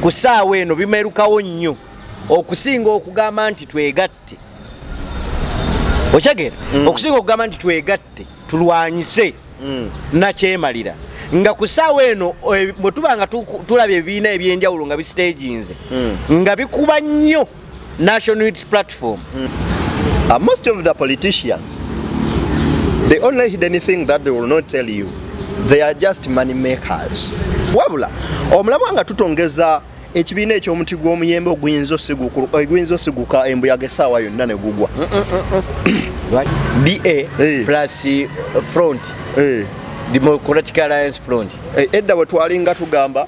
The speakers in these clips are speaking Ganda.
ku saawa eno bimerukawo nnyo okusinga okugamba nti twegatte okyegera mm. okusinga okugamba nti twegatte tulwanyise mm. nakyemalira nga ku saawa eno eh, bwe tuba nga tulaba ebibiina ebyenjawulo nga bisiteginze mm. nga bikuba nnyo National Unity Platform. Mm. Uh, most of the politicians, they only hid anything that they will not tell you. They are just money makers. Wabula, omulabwa nga tutongeza ekibiina ekyomuti gw'omuyembe oguyinza eh, osiguka embuyaga esaawa yonna ne gugwa mm, mm, mm, ba eh. front eh. democratic alliance front edda bwe twalinga tugamba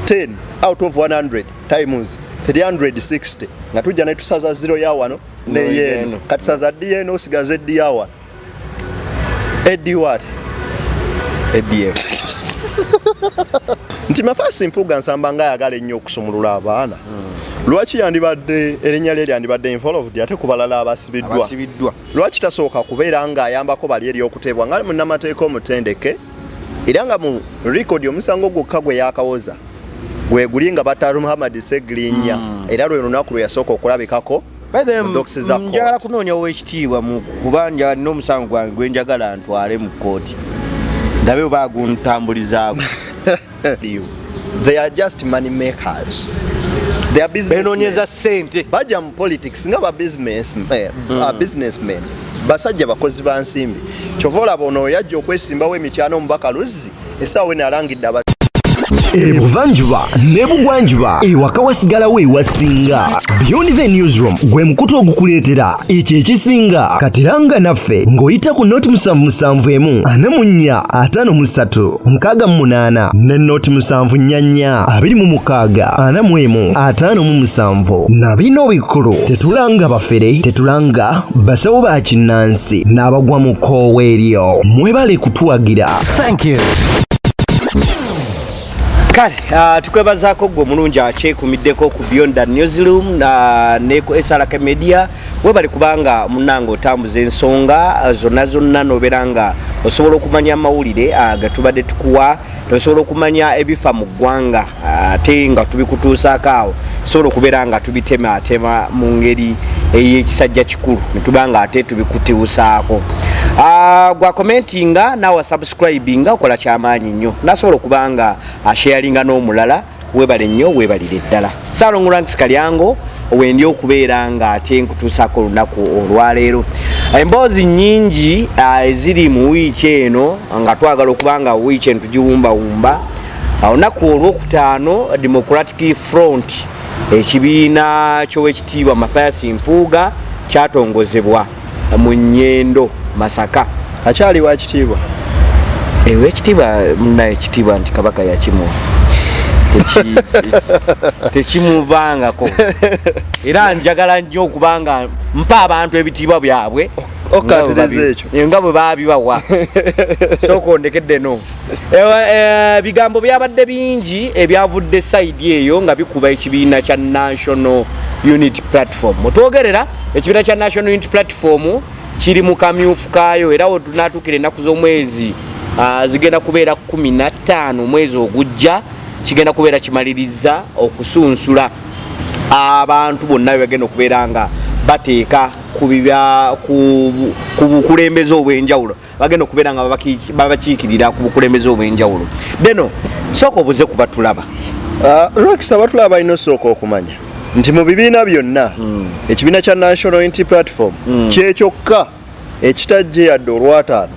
10 out of 100 times 360 nga tujja netusaza zero ya wano neyeeno kati saza di eno osigaza edi ya wano edi wat edf nti mathasi mpuga nsamba nga ayagala ennyo okusumulula abaana hmm. lwaki yandibadde erinnya lye lyandibadde involved ate ku balala abasibiddwa lwaki tasooka kubeera ng'ayambako bali eri okutebwa nga munnamateeka omutendeke era nga mu record omusango gwokka gwe yakawoza gweguli nga bataru muhammad segirinya mm. era lwe lunaku lwe yasooka okulabikako njagala kunoonya owekitiibwa kuba nja n'omusango gwange gwenjagala ntwale mu kkooti ndabe oba aguntambulizaako They are just money makers. They are businessmen. Benonyeza sente. Baja mu politics nga ba business eh, mm. uh, businessmen. Basajja bakozi ba nsimbi. Chovola bono yajja okwesimbawo emityano omubaka Luzzi esaawa eno alangidde aba ebuvanjuba ne bugwanjuba ewaka wasigalawo ewasinga beyond the newsroom gwe mukutu ogukuleetera ekyo ekisinga katiranga naffe ng'oyita ku noti musanvu musanvu emu ana mu nnya ataano mu ssatu mukaaga mu munaana ne nooti musanvu nnyanya abiri mu mukaaga ana mu emu ataano mu musanvu na bino bikulu tetulanga bafere tetulanga basawo ba kinnansi n'abagwa mu kkoowa eryo mwebale kutuwagira thank you kale uh, tukwebazaako gwe omulungi akyekumiddeko ku beyond the newsroom uh, ne ku srk media webale kubanga munange otambuza ensonga eh, zonna zonna nobeera nga osobola okumanya amawulire eh, getubadde tukuwa nosobola okumanya ebifa mu ggwanga eh, ate nga tubikutuusaako awo sobola okubeera nga tubitematema mu ngeri eyekisajja kikulu netuba nga ate tubikutiusaako ah, gwa commentinga nawa subscribinga okola kyamaanyi nnyo nasobola okuba nga asharinga n'omulala webale nnyo webalire ddala salong ranks kalyango wendi okubeera nga ate nkutuusaako olunaku olwaleero emboozi nyingi ah, eziri mu wiiki eno nga twagala okuba nga wiiki eno tugiwumbawumba ah, olunaku olwokutaano democratic front ekibiina kyowekitiibwa mathias mpuuga kyatongozebwa mu nyendo masaka akyali wa kitiibwa ewe eh, ekitiibwa munaye ekitiibwa nti kabaka yakimuwa tekimuvangako era njagala nnyo okubanga mpa abantu ebitiibwa byabwe nga bwe babibawa sooka ondekedde no Eh, ebigambo byabadde bingi ebyavudde sayidi eyo nga bikuba ekibiina kya national unit platform mutwogerera ekibiina kya national unit platform kiri mu kamyufu kaayo era wetunatuukira ennaku z'omwezi ah, zigenda kubeera 15 omwezi ogujja kigenda kubeera kimaliriza okusunsula abantu bonna bebagenda okubeera nga bateeka ku bukulembeze obw'enjawulo bagenda okubeera nga babakiikirira ku bukulembeze obw'enjawulo deno sooka obuze ku batulaba uh, rox abatulaba balina osooka okumanya nti mu bibiina byonna hmm. ekibiina kya national unity platform hmm. kyekyokka ekitajje yadde olwataano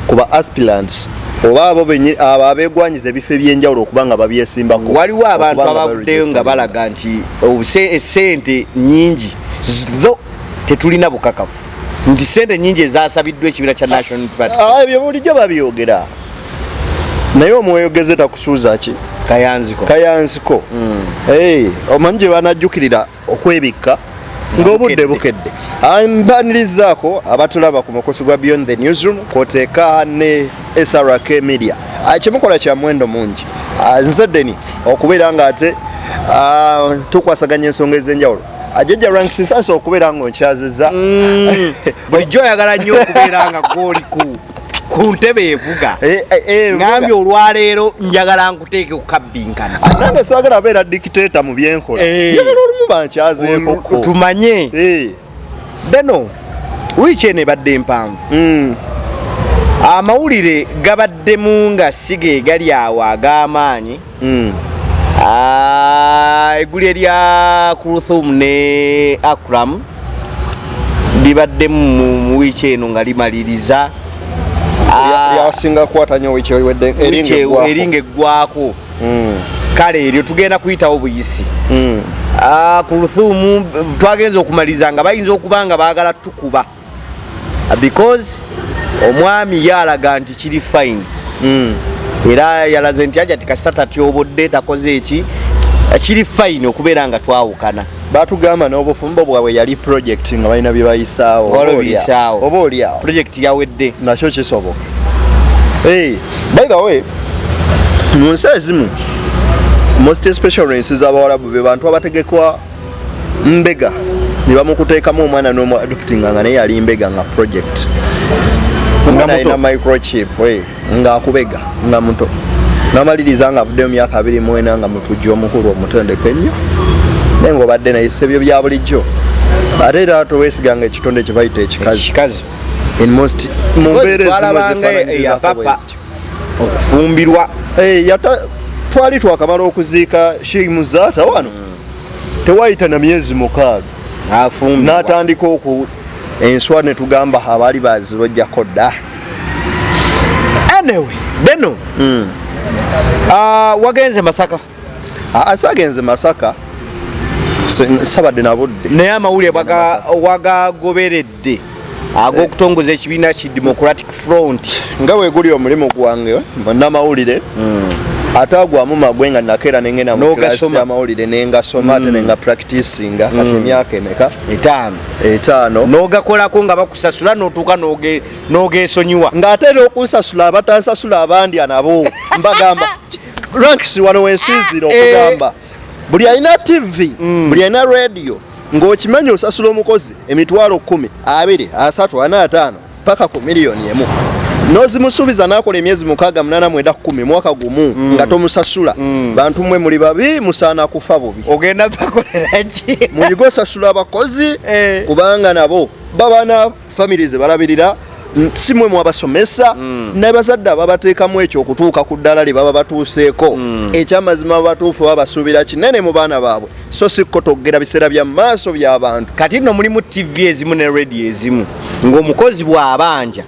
ku ba aspirants oba abo benye abo abegwanyiza ebifo ebyenjawulo okuba nga babyesimbako waliwo abantu abavuddeyo nga balaga nti obuse esente nyingi zo tetulina bukakafu nti sente nyingi ezasabiddwa ekibira kya national party ah, ebyo bulijjo babyogera naye omweyogeze takusuuza ki kayanziko kayanziko mm. hey, eh, omanyi gye banajjukirira okwebikka ng'obudde bukedde ah, mbanirizaako abatulaba ku mukusi gwa beyond the newsroom kwoteeka ne srk media ah, kyemukola kya mwendo mungi ah, nze deni okubeera nga ate tukwasaganya ensonga ez'enjawulo Ajeja ranks sasa okubera ngo nkyaziza. Mm. Bulijjo yagala nnyo okubera nga goli ku ku ntebe evuga. Eh, eh, eh, Ngambye olwaleero njagala nkuteeke ku kabbinkana. Ah, nange saagala abeera dictator mu byenkola. Njagala olumu bankyazeeko ko. Tumanye. Beno wiiki eno ebadde mpanvu. Mm. Amawulire gabaddemu nga siga egali awo ag'amaanyi. mm. ah, eguli erya Kuluthum ne Akram libadde mu wiiki eno nga limaliriza ah, yasinga kukwata nyo wiiki ewedde eringa eggwako hmm. kale eryo tugenda kuyitawo buyisi hmm. ah, kuluthumu twagenza okumaliriza nga bayinza okuba nga baagala tukuba because omwami ye alaga nti kiri fine mm. era yalaze nti aja tikasita tatyobodde takoze eki kiri fine okubeera nga twawukana batugamba n'obufumbo bwabwe yali project nga balina bye bayisaawo oba olyawo project yawedde nakyo kisoboka hey, by the way mu nsi ezimu most especially ensi z'abawalabu be bantu abategekwa mbega ne bamukuteekamu omwana n'omu adoptinga nga naye yali mbega nga project omwana alina microchip ng'akubega nga muto namaliriza nga avuddeyo myaka abiri mwena nga mutujja omukulu omutendeke ennyo naye ngaobadde naye sebyo bya bulijjo ate era towesiganga ekitonde kyebayita ekikazi okufumbirwa eh, twali twakamala okuziika sheikh muzata wano mm. tewayita na myezi mukaaga afumbi natandika oku enswa ne tugamba abaali bazirojjako dda anyway beno mm. uh, wagenze masaka asagenze ah, masaka sabadde nabudde naye amawulire wagagoberedde amalidde ag'okutongoza ekibiina ki democratic front nga weguli omulimu gwange namawulire hmm. ate agwamu magwe nga nakeera nengenda muklasi amawulire nengasoma ate hmm. nenga practicinga kati hmm. emyaka emeka etaano etaano nogakolako nga bakusasula notuuka nogesonyiwa ng'ate era okunsasula abatansasula abandi anabo mbagamba ranks wano wensinzira eh. okugamba buli alina tv mm. buli alina radio ng'okimanyi osasula omukozi emitwalo kumi abiri asatu ana ataano paka ku miliyoni emu nozimusuubiza nakola emyezi mukaga munana mwenda kumi mwaka gumu mm. nga tomusasula mm. bantu mwe muli babi musaana kufa bubi ogenda bakoleraki muyiga osasula abakozi eh. kubanga nabo babana famire ze balabirira si mwe mwabasomesa mm. nabazadde ababateekamu ekyo okutuuka ku ddala lye baba batuuseeko mm. ekyamazima babatuufu babasuubira kinene mu baana baabwe so si kukotogera biseera bya maaso by'abantu kati nno mulimu ttivi ezimu ne rediyo ezimu ng'omukozi bw'abanja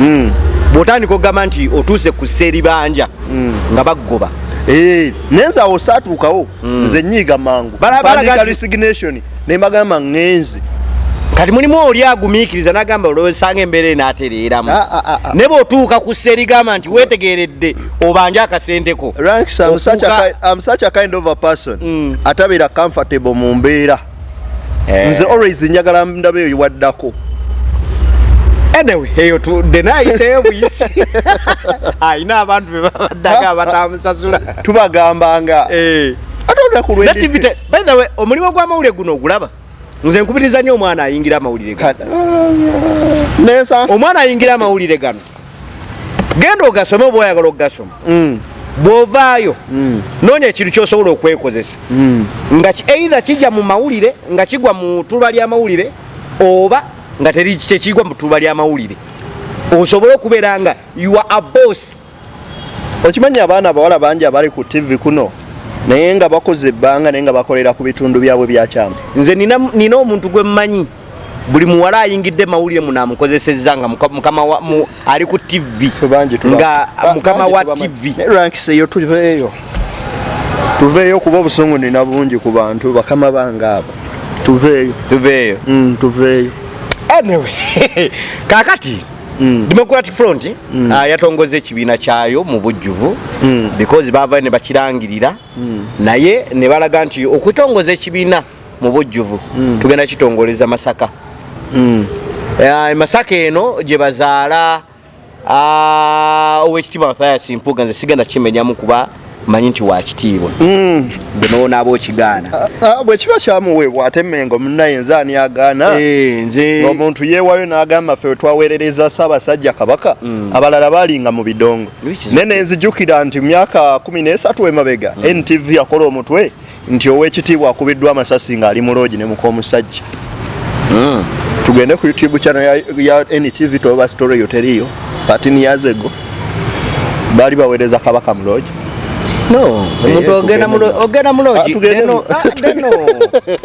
mm. bw'otandika okugamba nti otuuse ku seribanja mm. nga baggoba eh, naye nze awo saatuukawo mm. nze nyiiga mangu balaga resignation ne mbagamba ŋŋenze kati mulimu oli agumiikiriza nagamba olwesanga embeera enaatereeramu ah, ah, ah, ne bweotuuka ku ssa erigamba nti weetegeeredde obanja akasenteko mm. atabeera comfortable mu mbeera eh. nze always njagala ndaba eyo waddako anyway eyo tudde nayiseyo buyisi ayina abantu bebabaddaga abatamusasula tubagambanga eh. ate olunaku lwe By the way, omulimu gwa mawulire guno ogulaba? Nze nkubiriza nnyo omwana ayingira amawulire gano. Nensa. Omwana ayingira amawulire gano. Genda ogasome oba oyagala okugasoma. Mm. Bw'ovaayo mm. noonya ekintu ky'osobola okwekozesa mm. nga either kijja mu mawulire nga kigwa mu tuba ly'amawulire oba nga tekigwa mu tuba ly'amawulire osobole okubeera nga you are a boss okimanyi abaana abawala bangi abali ku ttivi kuno naye nga bakoze ebbanga naye nga bakolera ku bitundu byabwe byakyama nze nina omuntu gwe mmanyi buli muwala ayingidde mawulire munamukozesezza nga mukama ali ku ttivi nga mukama wa ttivi tuveeyo kuba obusungu nina bungi ku bantu bakama bange abo tuveeyo tuveeyo mm, tuveeyo anyway kakati Mm. Democratic Front mm. uh, yatongoza ekibiina kyayo mu bujjuvu mm. because bava ne bakirangirira mm. naye ne balaga nti okutongoza ekibiina mu bujjuvu mm. tugenda kitongoleza Masaka mm. uh, Masaka eno gye bazaala uh, owekitiibwa Mathias Mpuuga nze sigenda kimenyamu kuba manyi nti wakitiibwa mm. bwenowonaaba okigaana ah, ah, bwekiba kyamuweebwa ate mengo munaye nze ani agaana eh, nze omuntu yeewayo n'agamba ffe wetwaweerereza saabasajja kabaka mm. abalala balinga mu bidongo naye nenzijukira nti myaka kumi n'esatu emabega mm. ntv yakola omutwe nti owekitiibwa akubiddwa amasasi ng'ali mu loogi ne muk'omusajja hmm. tugende ku youtube channel ya, ya ntv toba story yo teriyo 13 years ago baali baweereza kabaka mu loogi no omuntu ogenda mu ogenda mu loogi ah, deno ah, deno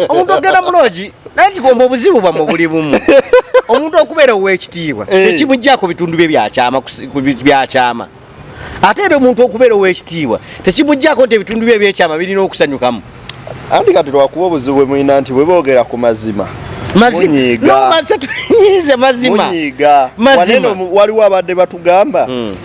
omuntu ogenda mu loogi naye kigomba obuzibu bwamwe buli bumu omuntu okubeera ow'ekitiibwa eh. tekimuggyako bitundu bye byakyama byakyama ate era omuntu okubeera ow'ekitiibwa tekimuggyako nti ebitundu bye ebyekyama birina okusanyukamu anti kati lwakuba obuzibu bwe mulina nti bwe boogera ku mazima mazimaze mazima waliwo abadde batugamba hmm.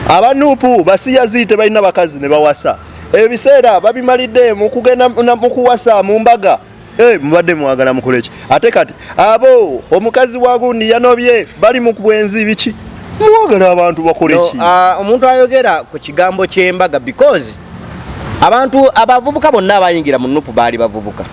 abanupu basiyazi tebalina bakazi ne bawasa ebiseera babimalidde mu kugenda mu kuwasa mu mbaga Hey, eh, mubadde mwagala mukoleki ate kati abo omukazi wagundi yanobye bali mu bwenzi biki mwagala abantu bakoleki no, ah, omuntu uh, ayogera ku kigambo ky'embaga because abantu abavubuka bonna abayingira mu nupu baali bavubuka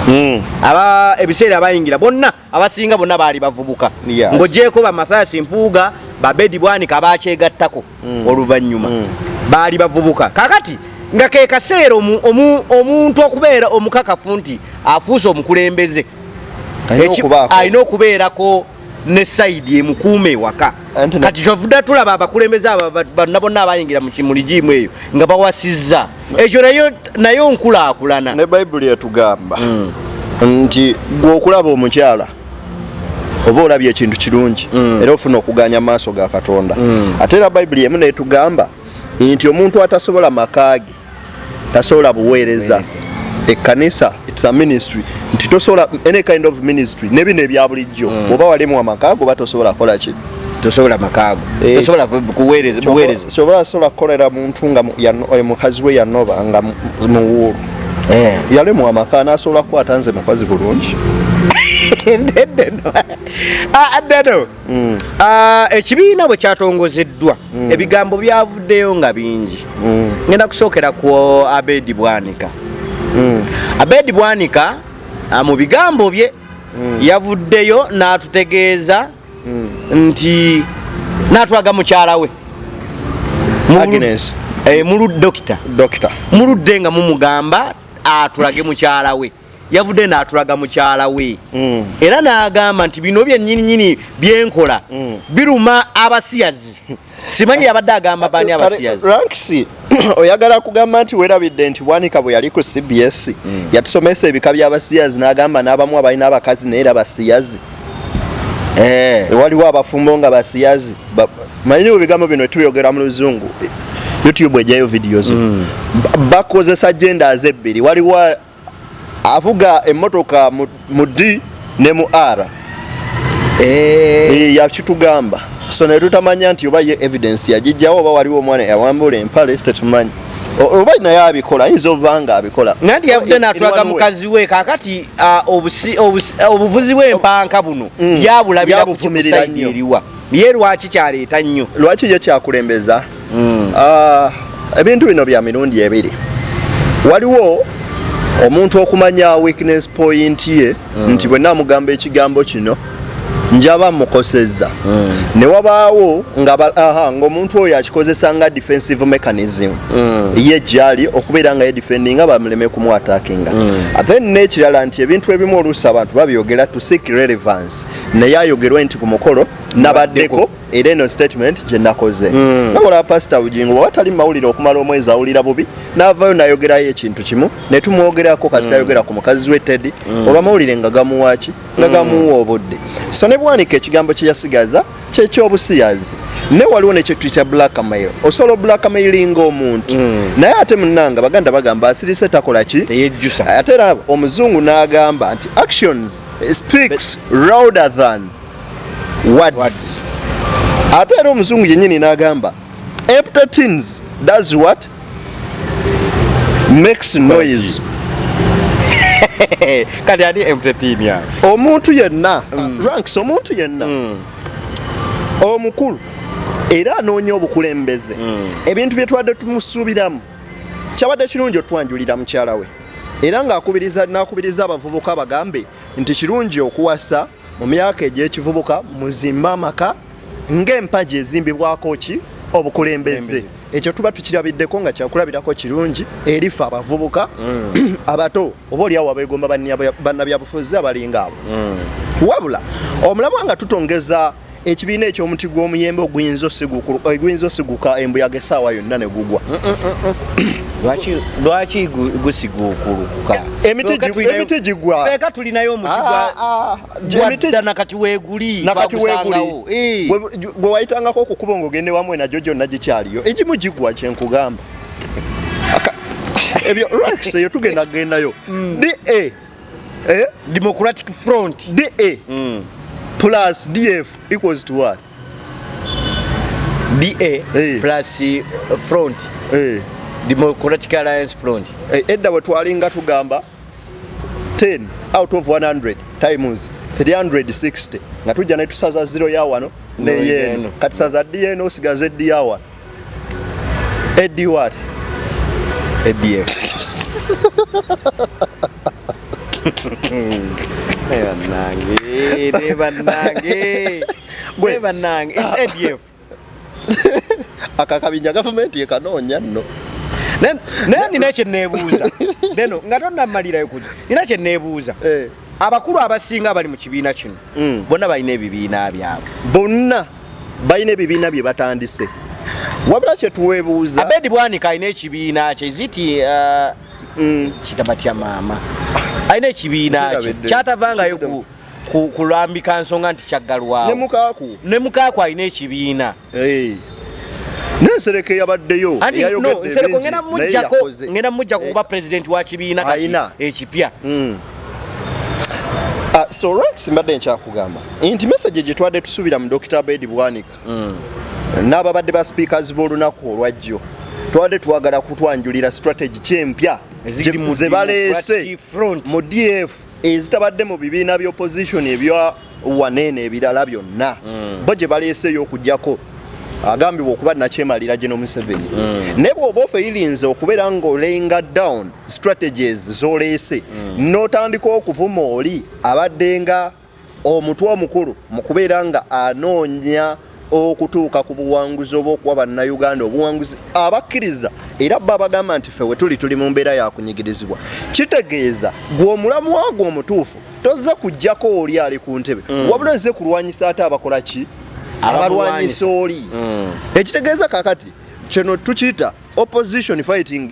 mm. aba ebiseera abayingira bonna abasinga bonna baali bavubuka yes. ng'ogyeko ba mathias mpuuga babedi bwanika baakyegattako mm. oluvannyuma mm. baali bavubuka kakati nga ke kaseera omuntu okubeera omukakafu nti afuuse omukulembeze alina okubeerako ne sayidi emukuuma ewaka kati kyovuda tulaba abakulembeze abo bonna bonna abayingira mu kimuli giimu eyo nga bawasizza ekyo nayo nayo nkulaakulana ne bayibuli etugamba mm. nti gwe okulaba omukyala oba olabye ekintu kirungi mm. era ofuna okuganya amaaso ga katonda mm. ate era bayibuli emu netugamba nti omuntu atasobola makaage tasobola buweereza ekkanisa its a ministry nti tosobola any kind of ministry ne bino ebya bulijjo mm. oba walimu amaka ago oba tosobola kola ki tosobola makaago eh, tosobola kuweereza buweereza sobola sobola kukolera muntu nga eh, mukazi we yanoba nga muwuulu eh. yalemwa amaka nasobola kukwata nze mukazi bulungi ah, deno mm. ah, ekibiina bwe kyatongozeddwa mm. ebigambo byavuddeyo nga bingi mm. ngenda kusookera ku abedi bwanika abedi bwanika ah, mu bigambo bye yavuddeyo n'atutegeeza na mm. nti natwaga mukyala we Agnes eh mulu doctor doctor muludde nga mumugamba atulage mukyala we yavudde n'atulaga mukyala we mm. era n'agamba nti bino byennyininyini byenkola mm. biruma abasiyazi simanyi yabadde agamba baani abasiyazi ranks oyagala kugamba nti werabidde nti bwanika bwe yali ku cbs mm. yatusomesa ebika by'abasiyazi n'agamba n'abamu abalina abakazi naye era basiyazi eh. waliwo abafumbo nga basiyazi manyi mu bigambo bino tubyogera mu luzungu youtube ejayo videos mm. bakozesa genders ebbiri waliwo avuga emotoka mu D ne mu R eh. Eh, yakitugamba so naye tutamanya nti oba ye evidence yagijjawo oba waliwo omwana yawambula empale tetumanyi oba naye abikola ayinza obuba nga abikola naye yavudde natulaga mukazi we kakati obuvuzi bw'empanka buno mm. yabulabira ku kisaidi eriwa ye lwaki kyaleeta nnyo lwaki yo kyakulembeza mm. uh, ebintu bino bya mirundi ebiri waliwo omuntu okumanya weakness point ye mm. nti bwenna amugamba ekigambo kino njaba mukosezza mm. ne wabaawo ng'omuntu oyo akikozesa nga defensive mechanism mm. ye gyali okubeera nga ye defendinga bamuleme kumwatakinga mm. then n'ekirala nti ebintu ebimu oluusi abantu babyogera to seek relevance naye ayogerwe nti ku mukolo nabaddeko era eno statement gye nakoze hmm. nakola pasita bugingo bwaba tali mawulire okumala omwezi awulira bubi n'avaayo nayogerayo ekintu kimu ne tumwogerako kasita hmm. ayogera ku mukazi we tedi hmm. olwamawulire nga gamuwaaki nga gamuwa obudde so ne bwanika ekigambo kye yasigaza kyekyobusiyazi ne waliwo nekyetu kya blackmail osobola oblackmailinga omuntu naye ate munanga baganda bagamba asirise takola ki ate era omuzungu n'agamba nti actions It speaks louder than words. words. Ate era omuzungu yennyini n'agamba empty tins does what makes noise kati ani empty tin ya omuntu yenna mm. uh, ranks omuntu yenna mm. omukulu era anoonya obukulembeze mm. ebintu bye twadde tumusuubiramu kyabadde kirungi otwanjulira mukyala we era ng'akubiriza n'akubiriza abavubuka bagambe nti kirungi okuwasa mu myaka egy'ekivubuka muzimbe amaka ng'empagi ezimbibwako ki obukulembeze ekyo tuba tukirabiddeko nga kyakulabirako kirungi erifa abavubuka mm. abato oba oliawo abegomba bannabyabufuzi abalinga abo mm. wabula omulabwa nga tutongeza ekibiina ekyomuti gw'omuyembe oguyinza osiguka embuyaga esaawa yonna ne gugwa mm, mm, mm, lwaki gusiguukulukuka e, emiti gigwafeeka tulinayo omutiddana ah, ah, ah, kati weguli eh. gwe wayitangako okukuba ngaogende wamu enagyo gyonna gikyaliyo egimu gigwa kyenkugamba ebyo rex eyo tugenda kugendayo da eh? democratic front da eh. mm. plus df equals to what da hey. Eh. plus eh, front hey. democratic alliance front hey, edda wetwalinga tugamba 10 out of 100 times 360 nga tujja netusaza zero ya wano neyeno kati saza dna osigaza eddi ya wano Eddie what? ADF. Banange, ne banange. Gwe banange, it's ADF. Akakabinja government ye kanonya no. Naye nina kye neebuuza. Deno nga tonnamalirayo kuja. Nina kye neebuuza. Eh. abakulu abasinga abali mu kibiina kino mm. bonna balina ebibiina byabwe bonna balina ebibiina bye batandise wabula kyetuwebuuza abedi bwanika alina ekibiina kye ziti uh, mm. kitabatya maama alina ekibiina kye kyatavangayo kulambika nsonga nti kyaggalwawo ne mukaaku alina ekibiina Hey. Nensereko yabaddeyo Nsereko ngenda mujjako ngenda mujjako kuba eh. president wa kibiina kati ekipya mm. uh, so Rex mbadde nkyakugamba nti message gye twadde tusuubira mu Dr. Abedi Bwanika mm. n'ababadde ba speakers b'olunaku olwajjo twade twagala kutwanjulira strategy kyempya zebaleese mu df ezitabadde mu bibiina by'opposition ebya waneeno ebirala byonna mm. bo gye baleeseeyo okujjako agambibwa okuba nakyemalira gino museveni mm. naye bwoba ofeyirinze okubeera ngaolenga down strategies zoleese mm. notandika okuvuma oli abaddenga omutwe omukulu mu kubeera nga anoonya okutuuka ku buwanguzi oba okuwa bannayuganda obuwanguzi abakkiriza era bba abagamba nti fe wetuli tuli mu mbeera yakunyigirizibwa kitegeeza gwe omulamu wagwo omutuufu tozze kujjako oli ali ku ntebe mm. wabula ozze kulwanyisa ate abakola ki abalwanyisa oli mm. ekitegeeza kakati kino tukiyita opposition fighting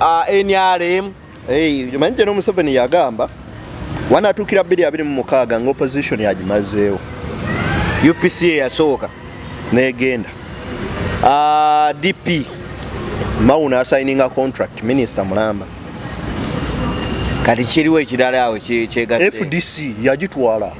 Ah, nrm omanyi jeno museveni yagamba wanatuukira 226 nga opposition yagimazeewo upc eyasooka negenda ah, dp mawuna asayininga contract minisita mulamba kati kiriwo ekirala awo kyegasfdc yagitwala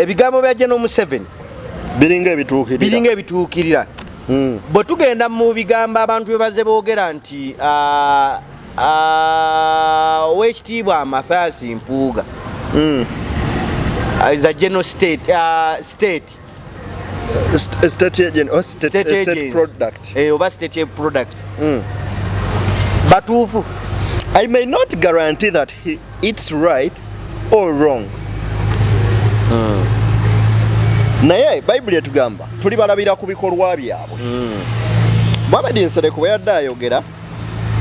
ebigambo bya General Museveni biringa ebituukirira biringa ebituukirira hmm. bwe tugenda mu bigambo abantu bye baze boogera nti ah, ah, owekitiibwa Mathias Mpuuga hmm. is a general state, uh, state state agent or state, state, state, state product eh oba state product mm. batuufu i may not guarantee that he, it's right or wrong mm. naye bayibuli etugamba tuli balabira ku bikolwa byabwe mm. muhamedi nsereko bwe yadde ayogera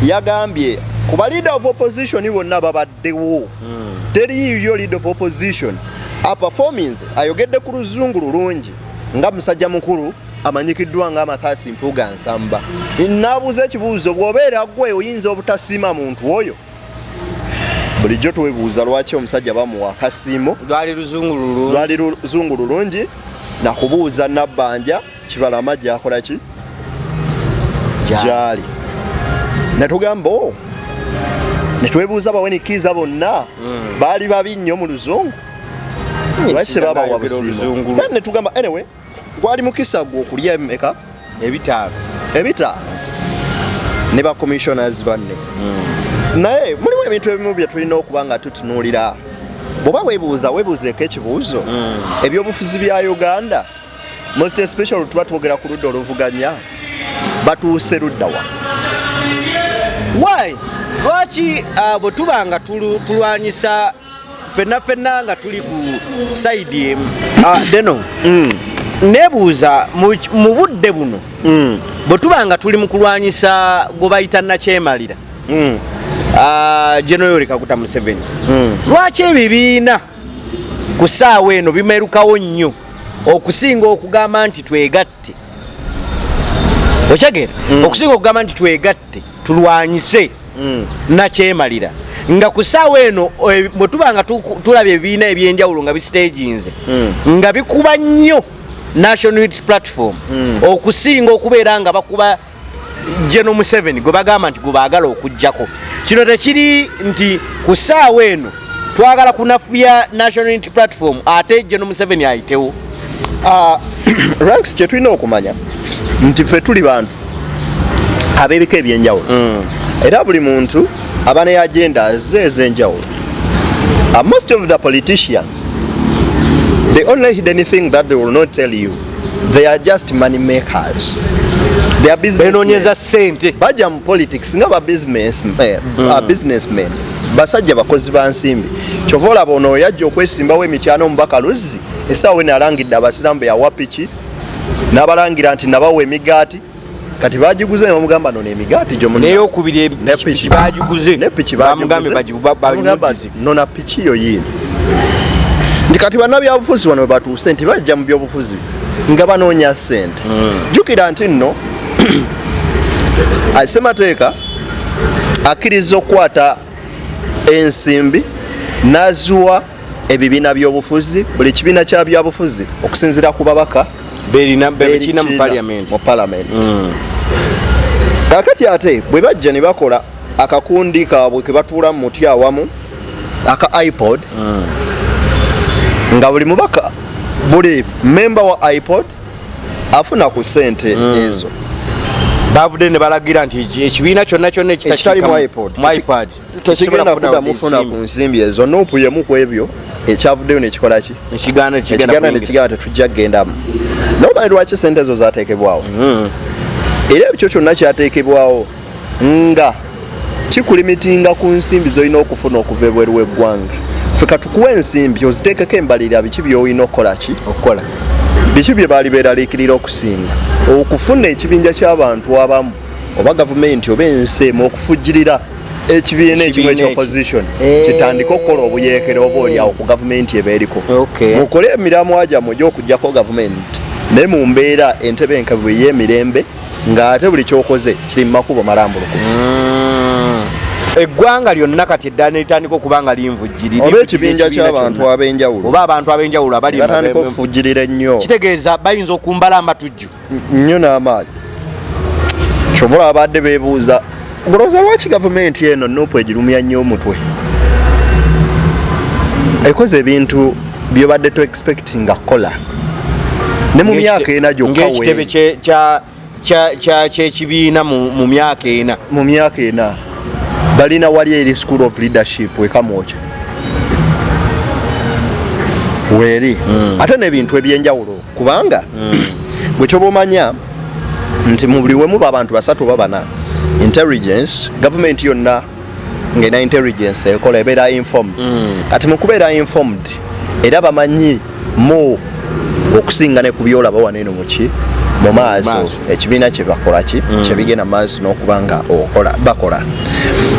yagambye ku balida of opposition bonna babadde the war mm. teri yiyo lead of opposition aperformance ayogedde ku luzungu lulungi nga musajja mukulu amanyikiddwa nga amathasi mpuga nsamba naabuuza ekibuuzo bwobeera gwe oyinza obutasiima muntu oyo bulijjo twebuuza lwaki omusajja bamuwa akasiimo lwali luzungu lulungi nakubuuza nabbanja kibalama gyakola ki gyali netugamba o oh, netwebuuza bawenikiriza bonna hmm. baali babi nnyo mu luzungu lwaki tebabawa busiimu then netugamba anyway gwali mukisa gwe okulya emeka ebitaano ebitaano ne ba commissioners banne hmm. naye mulimu ebintu ebimu bye tulina okuba nga tutunuulira bwoba webuuza webuuzeeko ekibuuzo hmm. ebyobufuzi bya uganda most especially tuba twogera ku ludda oluvuganya batuuse luddawa why lwaki uh, bwe tuba nga tulwanyisa fenna fenna nga tuli ku saidi emu ah, deno mm. nebuuza mu budde buno mm. bwe tuba nga tuli mu kulwanyisa gwe bayita nakyemalira mm. ah, genoyori kakuta museveni lwaki ebibiina ku saawa eno bimerukawo nnyo okusinga okugamba nti twegatte okyagera mm. okusinga okugamba nti twegatte tulwanyise mm. nakyemalira nga ku saawa eno eh, bwe tuba nga tulaba ebibiina ebyenjawulo nga bisiteginze mm. nga bikuba nnyo national unit platform mm. okusinga okubeera nga bakuba General Museveni gwe bagamba nti gubaagala okujjako kino tekiri nti ku ssaawa eno twagala kunafuya National Unity Platform ate General Museveni ayitewo ah, ranks kye tulina okumanya nti ffe tuli bantu ab'ebika ebyenjawulo mm. era buli muntu aba ne agenda ze ez'enjawulo ah, most of the politician the only hidden thing that they will not tell you they are just money makers they are business benonyeza sente baja mu politics nga ba business men mm. a business men basajja bakozi ba nsimbi kyova olaba ono yajja okwesimbawo emityana omubaka luzzi esaawa eno alangidde abasiramu beyawa piki n'abalangira nti nabawa emigaati kati bagiguze nebamugamba nono emigaati gyoneyokubiri piki bagiguze nepiki nona piki yo yini nti kati banabyabufuzi bano webatuuse nti bajja mu byobufuzi nga banoonya sente hmm. jukira nti nno semateeka akkiriza okukwata ensimbi naziwa ebibiina byobufuzi buli kibiina kya byabufuzi okusinzira ku babaka berina mu parliament mu parliament mm. kakati ate bwe bajja ne bakola akakundi kaabwe ke batuula mu muti awamu aka ipod mm. nga buli mubaka buli memba wa ipod afuna ku sente mm. ezo bavudde ne balagira nti ekibiina kyonna kyonna ekitalimu ipod tekigenda kuda mufuna ku nsimbi ezo nupu yemu ku ebyo ekyavuddeyo nekikola ki ekiganda nekiganda tetujja kugendamu nomanyi lwaki sente ezo zatekebwawo mm-hmm. era ekyo kyonna kyatekebwawo nga kikulimitinga ku nsimbi zolina okufuna okuva ebweru weggwanga fe katukuwa ensimbi oziteekeko embalirira biki byolina okukola ki okukola biki bye baali beeraliikirira okusinga okufuna ekibinja ky'abantu abamu oba gavumenti oba ensi emu okufujjirira ekibiina ekimu ekya opposition eh. kitandika okukola obuyeekera oba olyawo ku gavumenti eba eriko mukole emiramwa gyammwe gy'okugyako gavumenti naye mu mbeera entebe enkavu ey'emirembe ng'ate buli kyokoze kiri mu makubo malambulukufu hmm. eggwanga lyonna kati eddala nelitandika okuba nga linvujjirira oba ekibinja kyabantu abenjawulo oba abantu abenjawulo abaliatandika okufujjirira ennyo kitegeeza bayinza okumbala amatujju nnyo n'amaanyi kyova olaba baadde beebuuza olowooza lwaki gavumenti eno nupu egirumya nnyo omutwe ekoze ebintu byobadde to expectinga kola ne mu myaka ena gyokaekitebe kyekibiina mu myaka ena mu myaka ena balina wali eri school of leadership ekamwoca weeri hmm. ate nebintu ebyenjawulo kubanga mm. gwe kyoba omanya nti mu buli wemu babantu basatu oba bana intelligence gavumenti yonna ngaena intelligence ekola ebeera informed mm. kati mukubeera informed era bamanyi mu okusinga ne kubyolaba waneeno muki mu maaso ekibiina kyebakolaki mm. kyebigenda mu maaso n'okuba nga okola bakola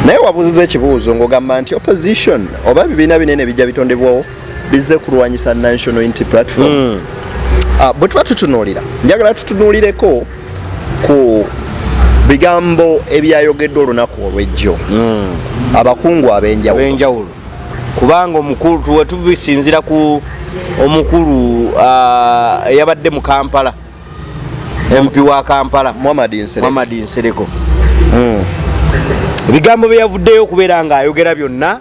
naye wabuuziza ekibuuzo ng'ogamba nti opposition oba ebibiina binene bijja bitondebwawo bizze kulwanyisa National Unity Platform mm. uh, bwe tuba tutunuulira njagala tutunuulireko ku bigambo ebyayogeddwa olunaku olw'ejjo mm. abakungu ab'enjawulo kubanga omukulu tuwe tubisinzira ku omukulu ah, eyabadde mu kampala mpi wa kampala muhammad nsereko hmm. ebigambo byeyavuddeyo okubeera ngaayogera byonna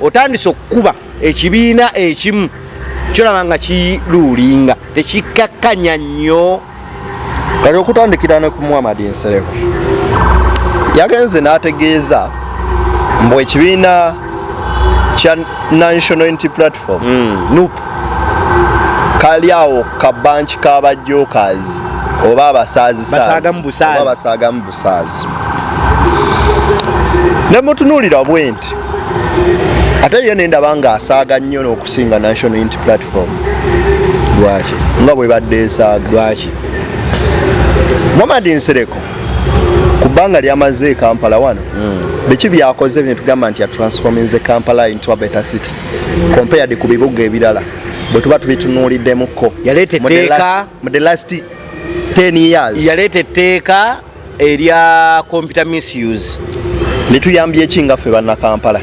otandise okukuba ekibiina ekimu kyolaba nga kiluulinga tekikkakkanya nnyo kati okutandikira ne ku muhammad nsereko yagenze n'ategeeza mbu ekibiina kya national unity platform hmm. nup kali awo ka banki k'abajokers oba abasaazisaazi basaaga mu busaazi ne mutunuulira bwenti Unity ate yo nendaba nga asaaga nnyo n'okusinga National Unity Platform lwaki nga bwebadde esaaga lwaki Muhammad Nsereko ku bbanga lyamaze e Kampala wano hmm. biki byakoze netugamba nti atransforminze Kampala into a better city compared ku bibuga ebirala bwe tuba tubitunuuliddemukko yaleeta etteeka mu the last 10 years yaleeta etteeka erya computer misuse lituyambye eki nga ffe bannakampala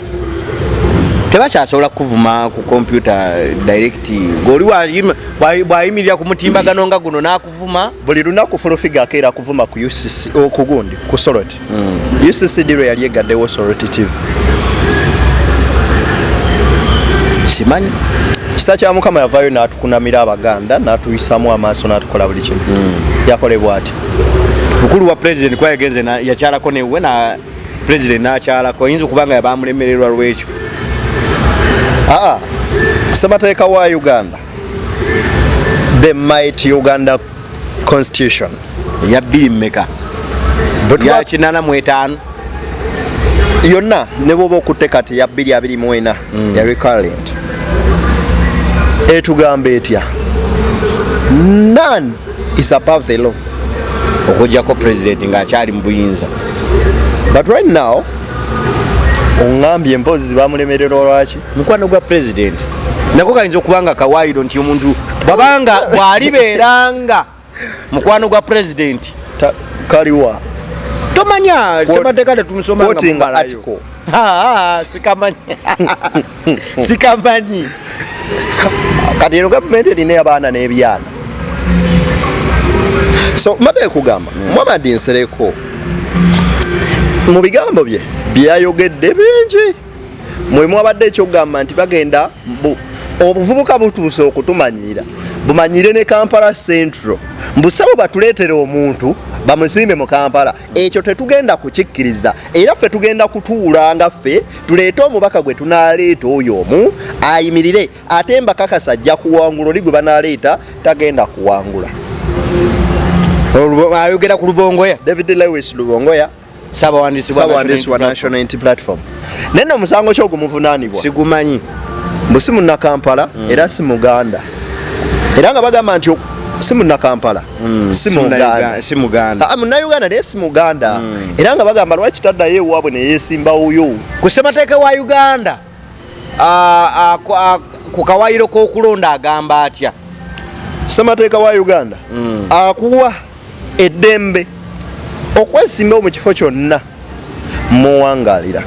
tebakyasobola kukuvuma ku kompyuta direct ngoli bwayimirira ku mutimbagano nga guno nakuvuma buli lunaku fulufiga akeera kuvuma ku ucc okugundi ku solot hmm. ucc diro yali egaddewo solot tv simanyi kisa kya mukama yavayo natukunamira abaganda natuyisamu amaaso natukola buli kimu hmm. yakolebwa ati mukulu wa president kwa yagenze na yakyala ko newe na president na kyala ko yinzo kubanga yabamulemererwa lwecho ah sabata eka wa Uganda the might Uganda constitution ya bili meka but ya chinana mwetano yonna ne bwoba okutte kati ya bili abili mwena mm. ya recurrent etugamba etya none is above the law okujjako president nga akyali mu buyinza but right now ongambye mpoozi zibamulemerera olwaki mukwano gwa president nako kayinza okuba nga kawaayiro nti omuntu bwabanga bwalibeeranga mukwano gwa president kaliwa tomanya semateeka tetumusoma sikamanya sikamanyi kati eno gavumenti erina abaana n'ebyana so mbadde kugamba muhamadi nsereko mu bigambo bye byeyayogedde bingi mwe mwabadde ekyokugamba nti bagenda obuvubuka butuuse okutumanyiira bumanyire ne kampala central mbusabo batuleetere omuntu bamusimbe mu kampala ekyo tetugenda kukikkiriza era ffe tugenda kutuula nga ffe tuleete omubaka gwe tunaaleeta oyo omu ayimirire ate mbakakasa ajja kuwangula oli gwe banaaleeta tagenda kuwangula ayogera ku lubongoya david lewis lubongoya sabawandiisi wa national int platform naye no omusango kyogu muvunanibwa sigumanyi mbu si munnakampala mm. era si muganda era nga bagamba nti si munnakampala Mm, si muganda si muganda ah, munauganda naye si muganda mm. era nga bagamba lwaki taddayo ewaabwe neyesimbawoyo ku ssemateeka wa uganda ah, ah, ku kawayiro k'okulonda agamba atya ssemateeka wa uganda mm. akuwa eddembe okwesimbawo mu kifo kyonna muwangalira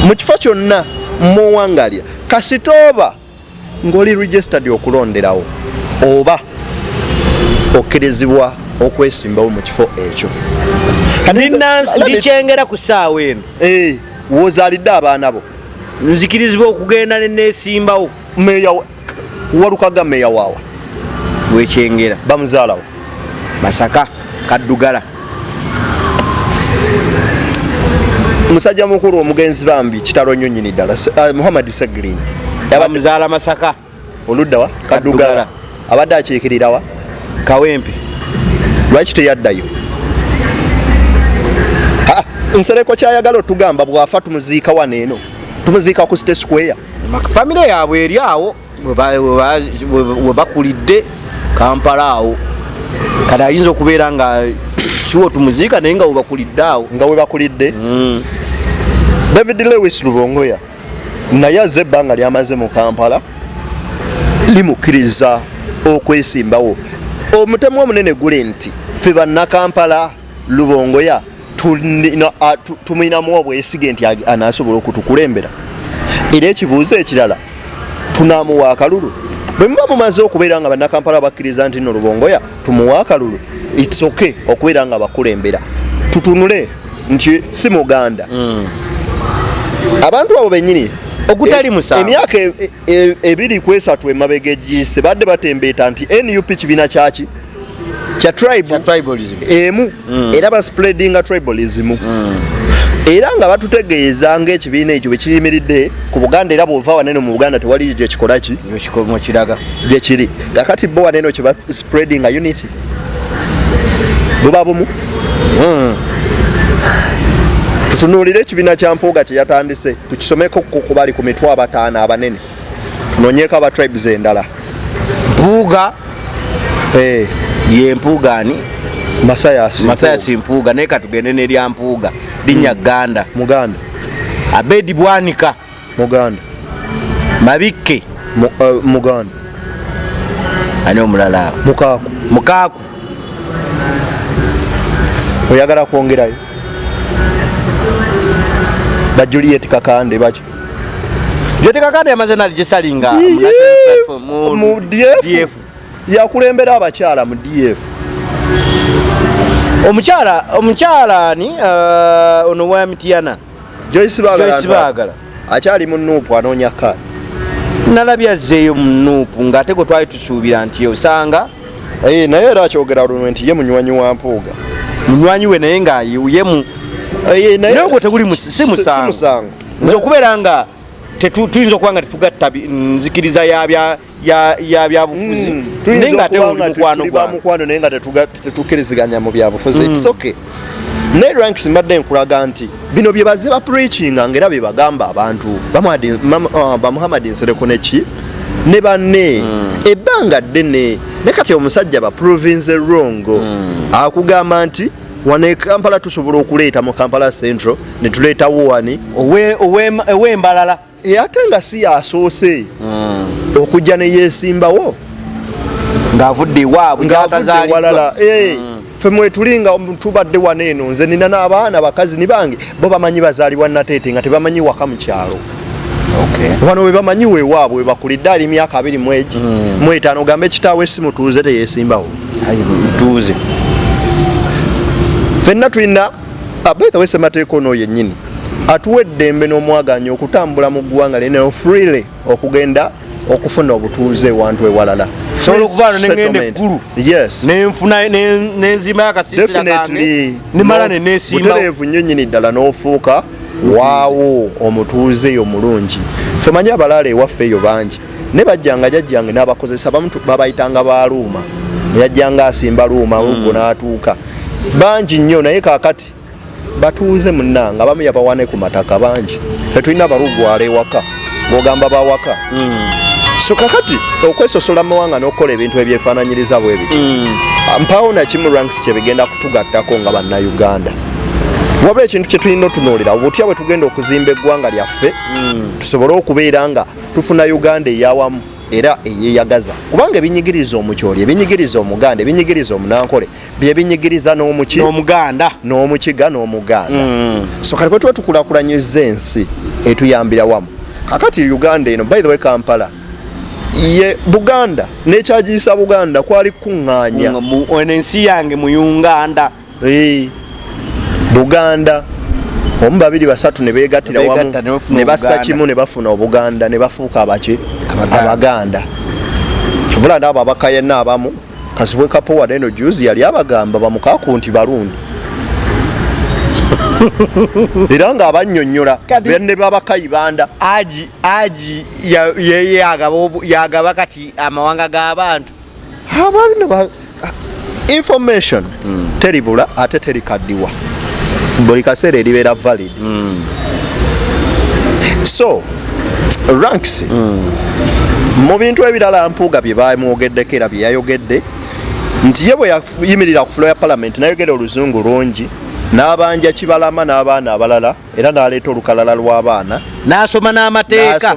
mu kifo kyonna muwangalira kasitooba ngoli registered okulonderawo oba okkirizibwa okwesimbawo mu kifo ekyo ndikyengera ku saawa eno eh, wozalidde abaana bo nzikirizibwa okugenda nenesimbawo meya walukaga meya waawa wekyengera bamuzaalawo masaka kaddugala musajja mukulu omugenzi bambi kitalo nnyo nyini ddala uh, muhammad seglin abamuzaala masaka oludda wa kadugala abadde akiikirira wa kawempe lwaki teyaddayo nsereko kyayagala otugamba bwafa tumuziika wano eno tumuziika ku state square famire yaabwe eri awo we bakulidde kampala awo kati ayinza okubeera nga kiwo tumuziika naye nga webakulidde awo nga webakulidde mm. david lewis lubongoya naye aze ebbanga lyamaze mu kampala limukkiriza okwesimbawo omutemu omunene guli nti fe bannakampala lubongoya ah, tumulinamu obwesige nti anasobola okutukulembera era ekibuuzo ekirala tunamuwa akalulu bwe muba mumaze okubeera nga bannakampala bakkiriza nti no lubongoya tumuwa akalulu its ok okubeera nga bakulembera tutunule nti si muganda mm. abantu abo benyini ogutali eh, musa emyaka e- e- E, ebiri ku esatu emabega egiyise badde batembeeta nti nup kibiina kyaki kya tribalism emu mm. era baspreadinga tribalism mm. era nga batutegeeza ngaekibiina ekyo bwekiyimiridde ku buganda era bwova waneno mu buganda tewali gyekikolaki gyekiri kakati bo waneno kyebaspreadinga unity buba bumu hmm. tutunuulire ekibiina kya mpuuga kye yatandise tukisomeko ku bali ku mitwe abataano abanene tunonyeeko aba tribes endala mpuuga eh. ye mpuuga ani mathayas mpuuga naye katugende nerya mpuuga linya hmm. ganda muganda abedi bwanika muganda mabikke eh, muganda ani omulala mukaaku mukaaku oyagala kwongerayo ba juliet kakande baki juliet kakande yamaze naligisalinga mu df yakulembera abakyala mu df omukyala omukyala ani eh, ono wa mitiana Joyce Bagala akyali mu nuupu anoonya kaadi nalabye azzeeyo mu nuupu ng'ate gwe twali tusuubira nti osanga eh, naye era akyogera lunwe nti ye munywanyi wa mpuuga munywanyi we naye ng'ayewuyemu eh, naye ogwo teguli si musango nze okubeera nga tuyinza okuba nga tetugatta nzikiriza ya ya byabufuzi mm. naye nga ate oli mukwano gwa mukwano naye nga tetukiriziganya mu byabufuzi mm. it's okay naye ranks mbadde nkulaga nti bino bye baze ba preachinga ngera bye bagamba abantu bamuhamad uh, nsereko neki ne banne mm. ebbanga ddene ne kati omusajja ba province wrong mm. akugamba nti wano e kampala tusobola okuleeta mu kampala central ne tuleetawo wani ow'embalala e ate nga si yasoose hmm. okujja neyesimbawo ngaavudde ewaabwe ngaatazaliwalala eh, hmm. fe mwetuli nga tubadde wano eno nze nina n'abaana bakazi ni bange bo bamanyi bazaalibwa nateete nga tebamanyi waka mu kyalo wano webamanyi wewaabwe webakulidde ali myaka abiri mwegi hmm. mwetaano ogambe kitaawe si mutuuze teyesimbawo mutuuze fenna tulina Ah, by the way semateeka ono yennyini atuwa eddembe n'omwaganya okutambula mu ggwanga lino freely okugenda okufuna obutuuze ewantu ewalala sobola okuvaano nengenda eggulu nenfuna nenzimayo akasiisira kange nemala nenesimbutereevu nnyo nyini ddala n'ofuuka waawo omutuuze yo mulungi femanyi abalaala ewaffe eyo bangi ne bajjanga jajjange n'abakozesa bamu babayitanga ba luuma yajjanga asimba luuma hmm. oluggo n'atuuka bangi nnyo naye kaakati batuuze munnanga abamu yabawane ku mataka bangi tetulina abalugwala ewaka ng'ogamba bawaka hmm. so kakati okwesosola mu mawanga n'okukola ebintu ebyefaananyiriza bwe bityo hmm. mpaawo nakimu ranks kye bigenda kutugattako nga bannayuganda wabula ekintu kye tulina otunuulira obutya bwe tugenda okuzimba eggwanga lyaffe tusobole okubeera nga tufuna uganda eyawamu era eyeyagaza kubanga ebinyigiriza omukyoli ebinyigiriza omuganda ebinyigiriza omunankole byebinyigiriza n'omuki omuganda n'omukiga n'omuganda mm. so kati bwetuba tukulakulanyiza ensi etuyambira wamu kakati uganda eno by the way kampala ye buganda nekyagiyisa buganda kwali kukuŋŋaanya ensi yange muyunganda hey, buganda omu babiri basatu ne beegattira wamu ne bassa kimu ne bafuna obuganda ne bafuuka abaki abaganda kivula naabo abakayana abamu kasibwe kapowa neno juzi yali abagamba bamukaku nti barundi era nga abanyonyola ne babakayibanda aji aji yagaba kati amawanga g'abantu ababino information mm. teribula ate terikaddiwa buli kaseera eribeera valid mm. so ranks mm. mu bintu ebirala mpuuga bye bamwogeddeko era bye yayogedde nti ye bwe yayimirira ku fulo ya palamenti nayogera oluzungu lungi n'abanja kibalama n'abaana abalala era n'aleeta olukalala lw'abaana n'asoma n'amateeka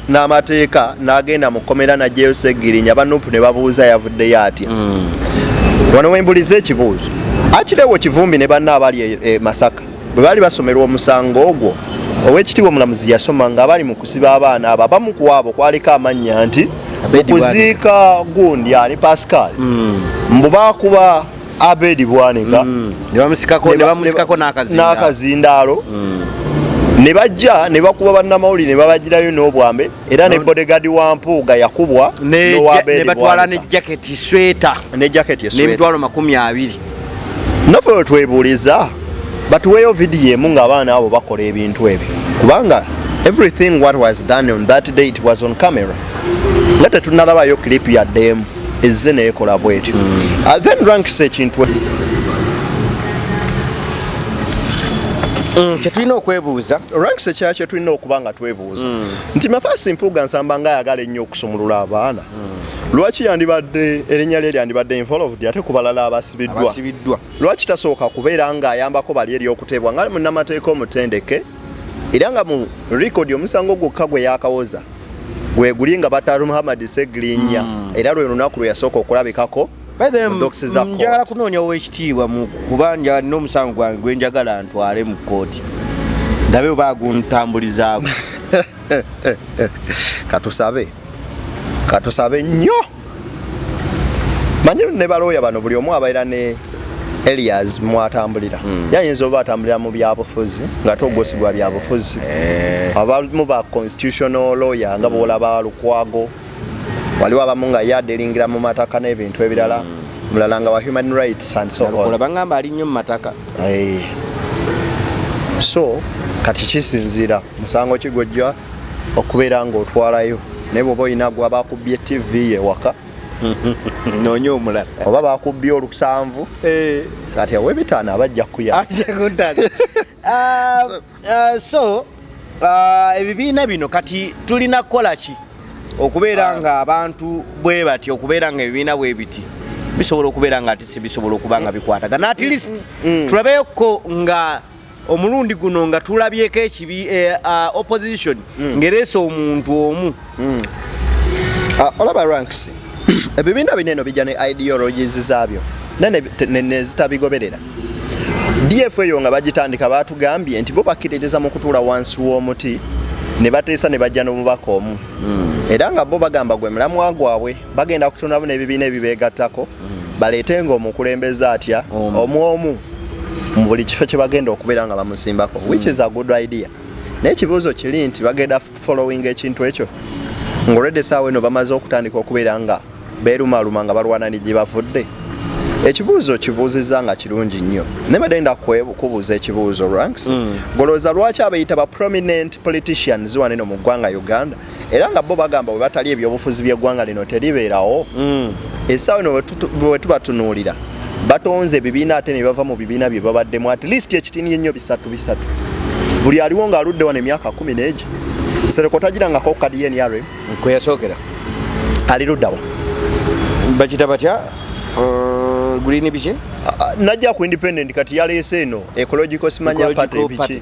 n'amateeka n'agenda mu kkomera n'ajjayo Ssegirinya ba Nup ne babuuza yavuddeyo atya mm. wano we mbuliza ekibuuzo akirewo Kivumbi ne banna abali e, e Masaka bwe baali basomerwa omusango ogwo ow'ekitiibwa omulamuzi yasoma nga bali mu kusiba abaana abo abamu ku abo kwaliko amannya nti okuziika gundi ani Pascal mm. mbu baakuba Abedi Bwanika mm. n'akazindaalo mm. ne bajja ne bakuba bannamawulire ne babagirayo n'obwambe era ne bodegadi wa mpuuga yakubwa ne batwala ne jaketi sweta ne jaketi esweta n'emitwalo makumi abiri naffe we twebuuliza batuweeyo vidiyo emu ng'abaana abo bakola ebintu ebyo kubanga everything what was done on that day it was on camera nga tetunalabayo clip ya dem ezze neekola bwetyo hmm. ah, then ranks ekintu Mm. kyetulina okwebuuza ranks ekya kyetulina okuba nga twebuuza mm. nti mathasi mpuuga nsamba nga ayagala ennyo okusumulula abaana mm. lwaki yandibadde erinnya lye lyandibadde involved ate ku balala abasibiddwa lwaki tasooka kubeera ng'ayambako bali eri okuteebwa nga munnamateeka omutendeke era nga mu record omusango gwokka gwe yakawoza gwe guli nga bataru muhammad segirinya mm. era lwe lunaku lwe yasooka okulabikako njagala kunoonya owekitiibwa mu kuba nja n'omusango gwange gwe njagala ntwale mu kkooti ndabe oba aguntambulizaako katusabe katusabe nnyo manyi ne balooya bano buli omu abaira ne elias mwatambulira mm. yayinza oba atambulira mu byabufuzi nga togosibwa byabufuzi eh. abamu ba constitutional lawyer nga bwolaba lukwago waliwo abamu nga yadelingira mu mataka n'ebintu ebirala mm. mulala nga wa human rights and so on bangamba ali nnyo mu mataka eh. so kati kisinziira musango kigojja okubeera ng'otwalayo naye bwoba olina gwa bakubbye ttivi ye waka nonya omulala oba bakubbye olusanvu eh. kati awe bitaano abajja kuya ah, ah, so ah, ebibiina bino kati tulina kukola ki okubeera nga abantu bwe bati okubeera nga ebibiina bwe biti bisobola okubeera nga ati sibisobola okuba nga bikwatagana at least mm, mm. tulabeyokko nga omulundi guno nga tulabyeko ekibi eh, ah, opposition mm. ngereesa omuntu omu mm. ah, olaba ranks ebibiina bineno bijja ne ideologies zaabyo nezitabigoberera df eyo nga bagitandika batugambye nti bo bakkiririza mu kutuula wansi w'omuti ne bateesa ne bajja n'omubaka omu mm. era nga bo bagamba gwe mulamwa gwabwe bagenda kutondamu n'ebibiina ebibeegattako mm. baleete nga omukulembeze atya omu omu mu buli kifo kye bagenda okubeera nga bamusimbako mm. which is a good idea naye ekibuuzo kiri nti bagenda following ekintu ekyo ngaolwedde esaawa eno bamaze okutandika okubeera nga beerumaluma nga balwana ni gye bavudde ekibuuzo kibuuzizza nga kirungi nnyo naye badde nda kubuuza ekibuuzo ranks mm. golowooza lwaki abeyita ba prominent politicians waneno mu ggwanga uganda era nga bo bagamba webatali ebyobufuzi byeggwanga lino teribeerawo mm. esaawa eno wetubatunuulira batonze ebibiina ate nebava mu bibiina bye babaddemu at least ekitini ennyo bisatu bisatu buli aliwo nga aludde wano emyaka kumi neegi sereko tagirangako kadi yenr kweyasookera ali luddawa bakita batya uh, green biki najja ku independent kati yaleese eno ecological simanya party biki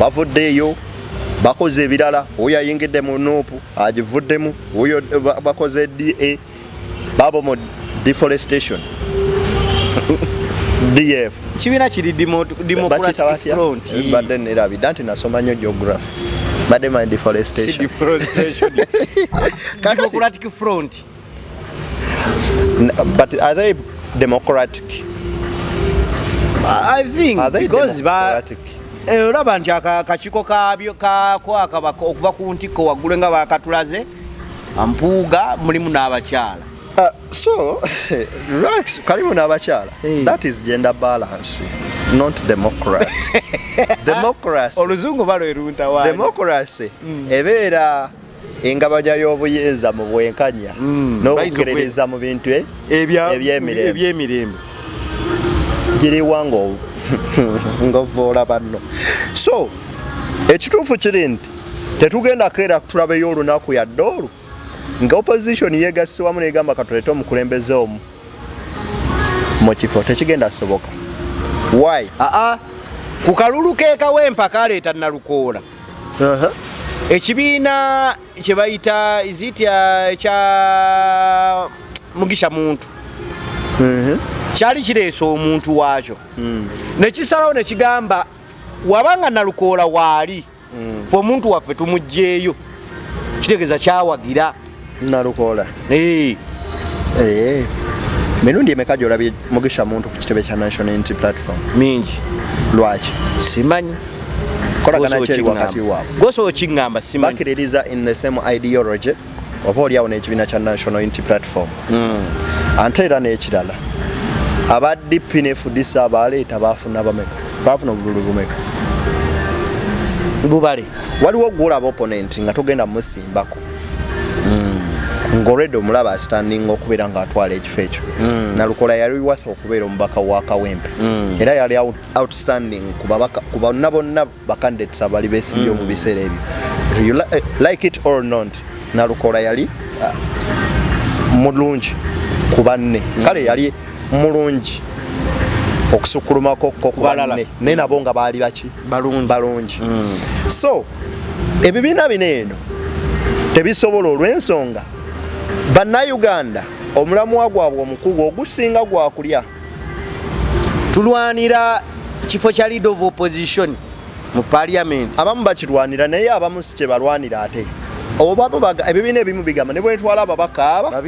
bavuddeeyo bakoze ebirala oyo ayingidde mu nuupu agivuddemu oyo bakoze da babo mu deforestation df kibiina kiri democraticfrontbadde eh, nerabidda nti nasoma nnyo geography badde my deforestation But are they democratic? I think are they because democratic? Ba Eh, olaba nti akakiiko kabyo kakwaka okuva ku ntikko waggulu nga bakatulaze mpuuga mulimu n'abakyala uh, so relax kalimu n'abakyala eh. that is gender balance not democrat democracy oluzungu balweruntawa democracy mm. ebeera engabanya y'obuyinza mu bwenkanya mm, n'okukkiririza mu bintu e- ebyemirembe giriwa ng'ovvoola banno so ekituufu kiri nti tetugenda keera tulabeyo olunaku yadde olwo nga opposition yegasse wamu negamba katulete omukulembeze omu mu kifo tekigenda soboka wy aa ah, ah. ku kalulu kekawa empaka aleeta nalukoola ekibiina kye bayita izitya kya mugisha muntu kyali kireese omuntu waakyo hmm. nekisalawo nekigamba wabanga nalukoola waali hmm. fe omuntu waffe tumugjeeyo kitegeeza kyawagira Nalukoola. Hey. Hey. Mirundi emeka gy'olabye Mugisha Muntu ku kitebe kya National Unity Platform? Mingi. Lwaki? Simanyi. Kolagana ki eri wakati waabwe? Gw'osobola okingamba simanyi. Bakiririza in the same ideology oba olyawo n'ekibiina kya National Unity Platform. Mm. Ante era n'ekirala aba DP ne FDC abaaleeta baafuna bameka? Baafuna obululu bumeka? Bubale. Waliwo gw'olaba opponent nga togenda musi bako mm. ngolwedde omulaba asitandinga okubeera ngaatwala ekifo ekyo mm. nalukola yali watha okubeera omubaka wa kawempe mm. era yali outstanding ku bonna bonna bacandidates abali besimbye mm. mu biseera ebyo you li eh, like it or not nalukola yali uh, mulungi ku banne mm. kale yali mulungi okusukkulumako ko ku banne naye nabo nga baali baki balungi so ebibiina bino eno tebisobola olw'ensonga bannayuganda omulamwa gwabwe omukulu ogusinga gwakulya tulwanira kifo kya lead of opposition mu parliament abamu bakirwanira naye abamu si kyebalwanira ate obamu ebibiina ebimu bigamba ne bwetwala ababaka aba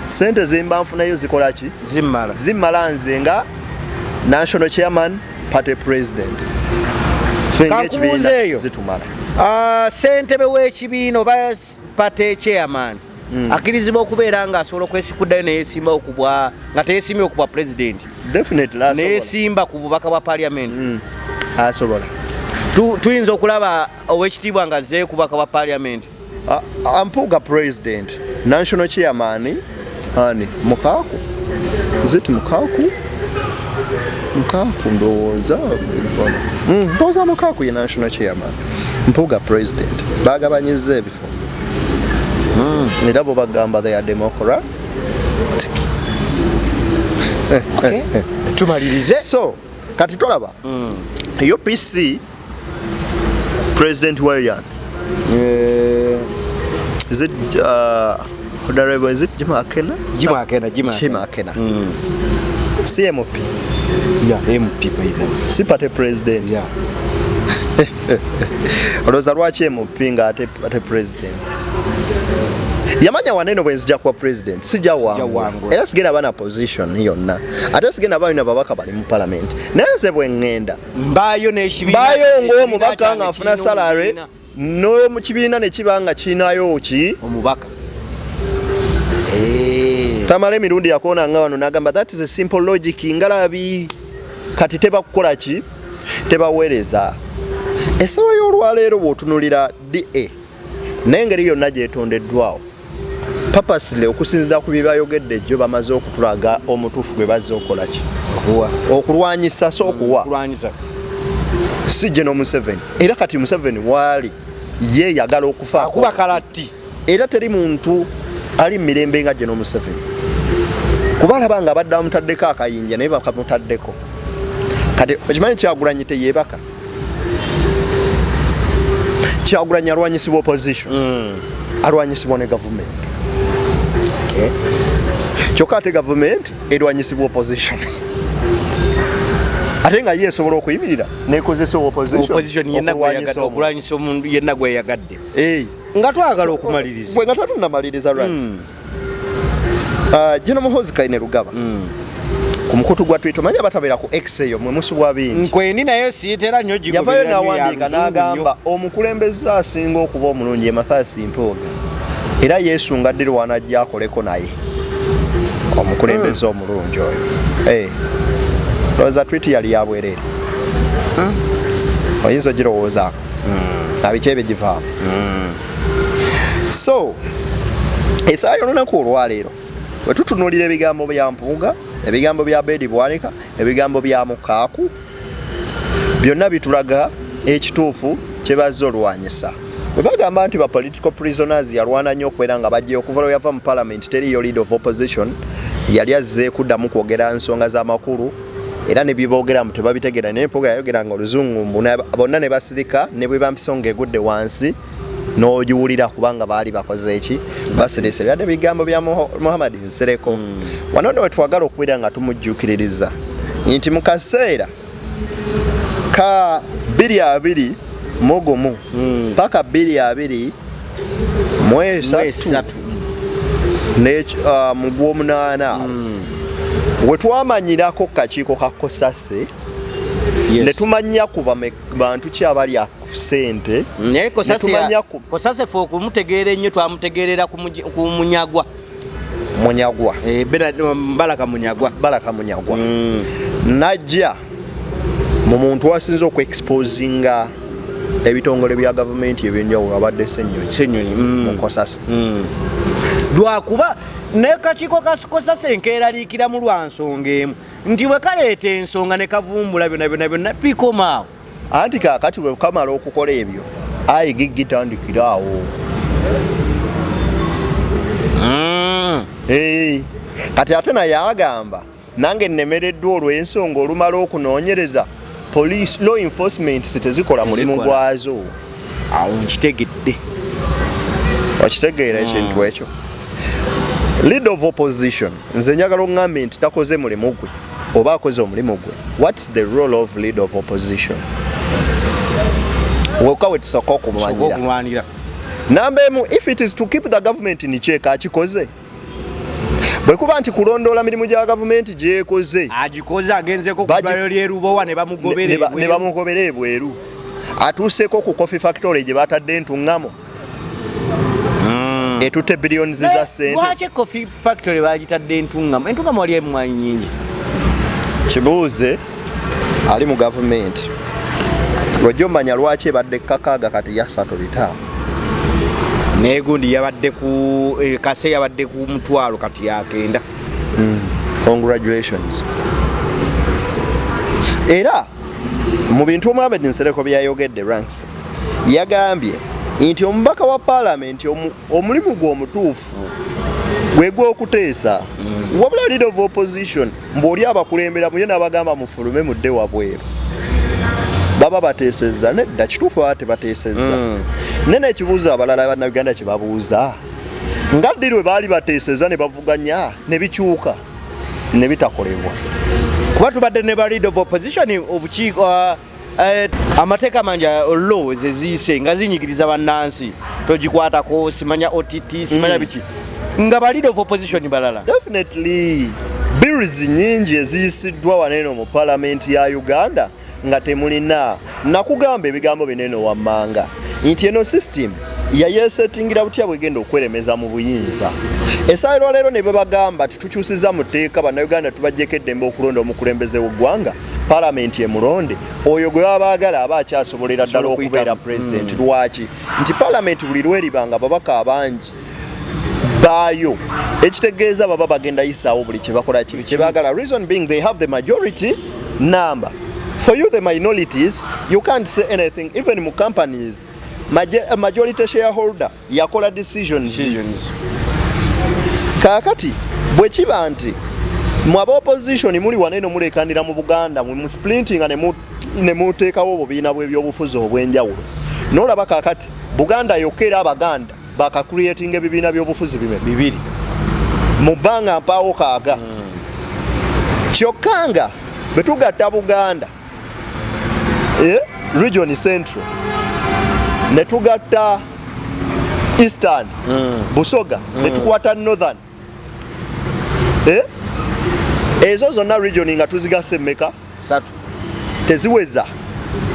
sente zemba nfunayo zikola ki zimmala zimmala nze nga national chairman party president kankubuuza eyo zitumala ah, sentebe w'ekibiina oba party chairman hmm. akirizibwa okubeera nga asobola okwesikuddayo neyesimba okubwa nga teyesimbye okubwa president neyesimba ku bubaka bwa parliament hmm. asobola tuyinza okulaba owekitiibwa nga zze kubaka bwa parliament Uh, ah, Mpuuga president, national chairman, ani Mukaaku, is it Mukaaku? Mukaaku ndowooza mm, ndowooza Mukaaku ye national chairman. Mpuuga president baagabanyizza ebifo mm. era bo bagamba they are democrat okay. tumalirize so kati tolaba mm. upc President Warian. Yeah. Is it uh, Honorable, is it Jim Akena? Jim Akena, Jim Akena. Jim Akena. Mm. CMOP. Yeah, MP by them. Si party president. Yeah. Olowooza lwaki MOP nga ate, ate president? yamanya waneno bwenzija kuba president sijja wangula era sigenda bana position yonna ate sigenda balina babaka bali mu palamenti naye nze bwe ŋŋenda mbaayo ng'omubaka nga nfuna salary n'omu kibiina ne kiba nga kirinayo ki omubaka eh. tamala emirundi yakoona nga wano nagamba that is a simple logic ngalabi kati tebakukola ki tebaweereza esawa y'olwaleero bw'otunulira da naye engeri yonna gyetondeddwawo papasle okusinzira ku byebayogedde jjo bamaze okutulaga omutuufu gwe bazze okolaki okulwanyisa so okuwa si geno museveni era kati museveni waali ye yagala okufakuba kalatti era teri muntu ali mu mirembe nga geno museveni kuba alaba nga abadde amutaddeko akayinja naye bakamutaddeko kati okimanyi kyagulanyi teyebaka kyagulanyi alwanyisibwa opposition mm. alwanyisibwa ne gavumenti okay. kyokka ate gavumenti erwanyisibwa opposition ate nga ye esobola okuyimirira nekozesa okulwanyisa omuntu yenna gweyagadde nga twagala okumaliriza nga twatunamaliriza rights mm. Ah, Jino Muhozi Kaine Rugaba mm. ku mukutu gwa Twitter manya batabera ku X eyo mwe musubwa bingi nkweni nayo siyitera nnyo gigo yavayo nawandiika n'agamba omukulembeze asinga okuba omulungi Mathias Mpuuga era Yesu nga ddi lwanajja akoleko naye omukulembeze mm. omulungi oyo eh. lowooza twiti yali yabwereere mm. oyinza ogirowoozaako nabikyebe givaamu so esaala yolunaku olwaleero wetutunulira ebigambo bya mpuuga ebigambo bya bedi bwanika ebigambo bya mukaaku byonna bitulaga ekituufu kyebazze olwanyisa webagamba nti ba political prisoners yalwana nnyo okubeera nga bajja okuva lwe yava mu palamenti teriyo lead of opposition yali azze kuddamu kwogera nsonga z'amakulu era ne byeboogera mbu tebabitegeera naye mpoga yayogeranga oluzungu mbu bonna ne basirika ne bwe bampiso nga egudde wansi n'ogiwulira kubanga baali bakoze eki basirise byadde bigambo bya muhammad nsereko hmm. wano no wetwagala okubeera nga tumujjukiririza nti mu kaseera ka biri abiri mugumu hmm. paka biri abiri mwesatu uh, mu gwomunaana hmm. wetwamanyirako kakiiko ka kosase netumanya ku bantu ki abali ku sente naye kosase fe okumutegeera ennyo twamutegeerera ku munyagwa munyagwa eh, um, balaka munyagwa balaka munyagwa mm. najja mu muntu asinze okuexposinga ebitongole bya gavumenti ebyenjawulo abadde senyonyi mm. mukosasa mm. lwakuba nekakiiko kakosasa enkeeraliikiramu lwa nsonga emu nti bwe kaleeta ensonga ne kavumbula byona byona byonna pikomaawo anti kakati wekamala okukola ebyo ayi gigitandikira awo mm. kati ate naye agamba nange nemereddwa olw'ensonga olumala okunoonyereza police law enforcement tezikola mulimu gwazo awo nkitegedde okitegeera ekintu mm. ekyo lead of opposition nze njagala ongambe nti takoze mulimu gwe oba akoze omulimu gwe whats the role of lead of opposition woka wetusooka okulwanira namba emu if it is to keep the government in check akikoze bwe kuba nti kulondoola mirimu gya gavumenti gyekoze agikoze agenzeko kudwaliro lyerubowa ne bamugobera ebweru atuuseeko ku coffee factory gye batadde entuŋŋamo mm. etutte billions za sente lwaki coffee factory bagitadde entungamo entungamo wali emwanyi nyingi kibuuze ali mu gavumenti lwojja omanya lwaki ebadde kakaaga kati yasatu bitaano naye gundi yabadde ku eh, kase yabadde ku mutwalo kati yakenda mm. congratulations era Mu bintu Mohamed Nsereko byayogedde Ranks yagambye nti omubaka wa palamenti omulimu gwe omutuufu gwe gw'okuteesa mm. wabula leader of opposition mbu oli abakulembera muye n'abagamba mufulume mudde wabweru baba bateesezza nedda kituufu baba tebateesezza mm. naye n'ekibuuzo abalala bannayuganda kye babuuza nga ddi lwe baali bateeseza ne bavuganya ne bikyuka ne bitakolebwa kuba tubadde ne ba lead of opposition obukiiko uh, Eh, amateeka mangi eh, law zeziise nga zinyigiriza bannansi togikwatako simanya ott simanya mm. biki nga ba leader of opposition balala definitely bills nyingi eziyisiddwa waneeno mu palamenti ya uganda nga temulina nakugamba ebigambo bineno wammanga nti eno system yayesetingira butya bwegenda okweremeza mu buyinza esaala lwaleero ne bebagamba titukyusiza mu tteeka bannayuganda tubajjeko eddembe okulonda omukulembeze w'eggwanga palamenti emulonde oyo gwe baba baagala aba akyasobolera ddala okubeera pulezidenti hmm. lwaki nti palamenti buli lweriba nga babaka abangi baayo ekitegeeza baba bagenda yisaawo buli kyebakola kibi kyebagala reason being they have the majority number for you the minorities you can't say anything even mu companies eh, majority shareholder yakola decisions kakati bwekiba nti mwe aba opposition muli wano eno mulekanira mu buganda mwe musplintinga nemuteekawo obubiina bwebyobufuzi obwenjawulo nolaba kakati buganda yokera abaganda baka creating ebibiina byobufuzi bime bibiri mu bbanga mpaawo kaaga mm. kyokka nga bwe tugatta buganda e region central ne tugatta eastern mm. busoga mm. ne tukwata northern eh? ezo zonna region nga tuzigasa emmeka satu teziweza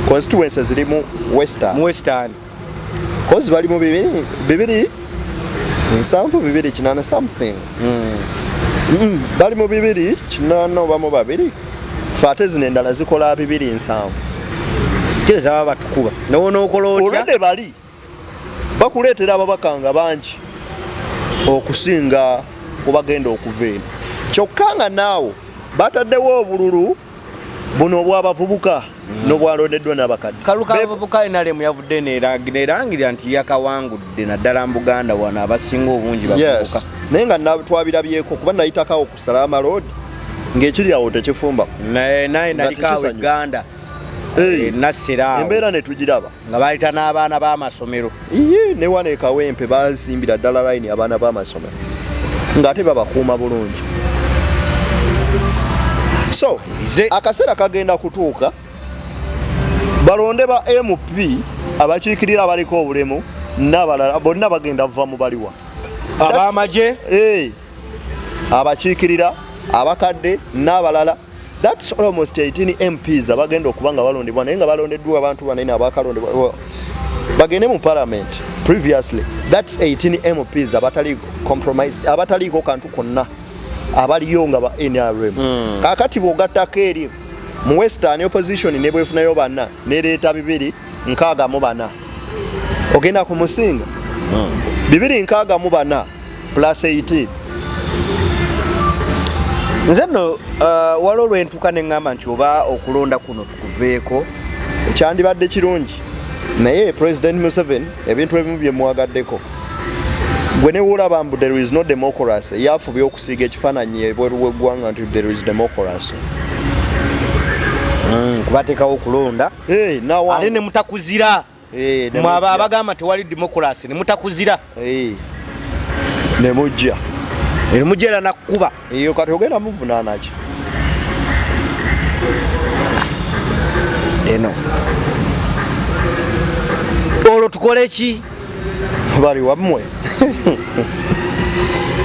constituency ziri mu western western kozi bali mu bibiri bibiri nsanvu bibiri kinana something mm. Mm, bali mu bibiri kinana oba mu babiri fate zino endala zikola bibiri nsanvu kyezaba batukuba nowonaokoloolwedde bali bakuleetera ababaka nga bangi okusinga ku bagenda okuva eno kyokka nga naawo bataddewo obululu buno obwabavubuka nobwalondeddwa nabakadde kalukabavubuka nrm yavudde nerangirira nti yakawangudde naddala mu buganda wano abasinga obungi bavubuka naye nga twabirabyeko kuba nayitakawo ku salaama road ng'ekiri awo tekifumba naye naye nalikaawo eganda Eh, nassiraawo embeera ne tugiraba nga baleeta n'abaana b'amasomero iye ne wano ekawempe basimbira ddala layini abaana b'amasomero ng'ate babakuuma bulungi so akaseera kagenda kutuuka balonde ba mp abakiikirira abaliko obulemu n'abalala bonna bagenda va mu baliwa abamagye eh, abakiikirira abakadde n'abalala That's almost 18 MPs abagenda okuba nga balondebwa naye nga balondeddwa abantu banene abakalondebwa bagende mu parliament previously that's 18 MPs abatali compromise abataliiko kantu konna abaliyo nga ba NRM mm. kakati bwogattako eri mu western opposition ne bwefunayo bana nereeta bibiri nkaaga mu bana ogenda ku musinga mm. bibiri nkaaga mu bana plus 18 nze no uh, waliwo lwentuka ne ŋŋamba nti oba okulonda kuno tukuveeko kyandibadde kirungi naye president museven ebintu ebimu byemwagaddeko gwe newolaba mbu there is no democracy yafubye okusiiga ekifaananyi ebweru weggwanga nti there is democracy mm, kubatekawo okulonda ate nemutakuzira eh, mwe abo abagamba tewali demokulasi ne mutakuzira eh, ne mujja ne mujja era nakukuba eyo kati ogenda muvunaana ki eno olwo tukole ki bali wammwe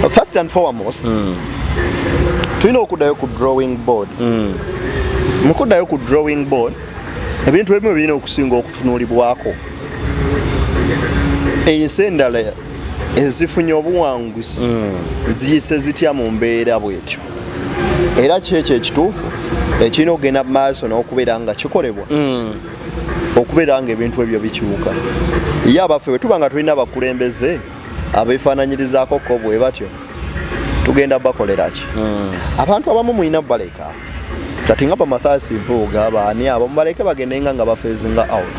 first and foremost mm. tulina okuddayo ku drawing board mm. mukuddayo ku drawing board ebintu ebimu birina okusinga okutunuulibwako ensi endala ezifunye obuwanguzi mm. ziyise zitya mu mbeera bwetyo era kyekyo ekituufu ekirina okugenda mu maaso n'okubeera nga kikolebwa mm. okubeera nga ebintu ebyo bikyuka ye abaffe bwe tuba nga tulina abakulembeze abeefaananyirizaako ko bwe batyo tugenda bakolera ki hmm. abantu abamu mulina baleka kati nga bamathaasi mpuuga baani abo mubaleke bagendenga nga bafeezinga out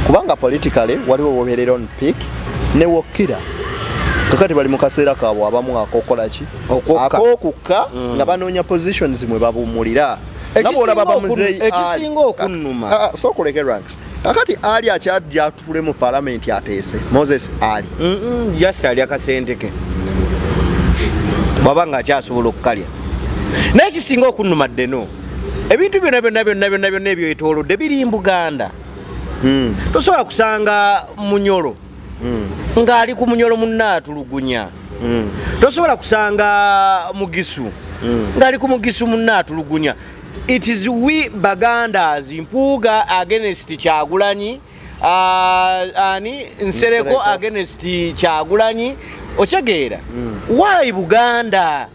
kubanga politikale waliwo wobeerera on pick newokkira kakati bali mu kaseera kaabwe abamu akokola ki akokukka hmm. nga banoonya positions mwe babumulira nga bwolaba bamuzeeyi ekisinga okunnuma ah, ah, sokuleke ranks kakati ali akyajja atule mu palamenti ateese moses ali just ali akasenteke bwaba nga akyasobola okukalya naye kisinga okunuma ddeno ebintu byona byona byona byona byona ebyo etolodde biri mbuganda hmm. tosobola kusanga munyolo hmm. ngaali ku munyolo munaatulugunya hmm. tosobola kusanga mugisu ngaali ku mugisu munaatulugunya It is we Bagandas Mpuuga against Kyagulanyi uh, ani Nsereko against Kyagulanyi okitegeera mm. why Buganda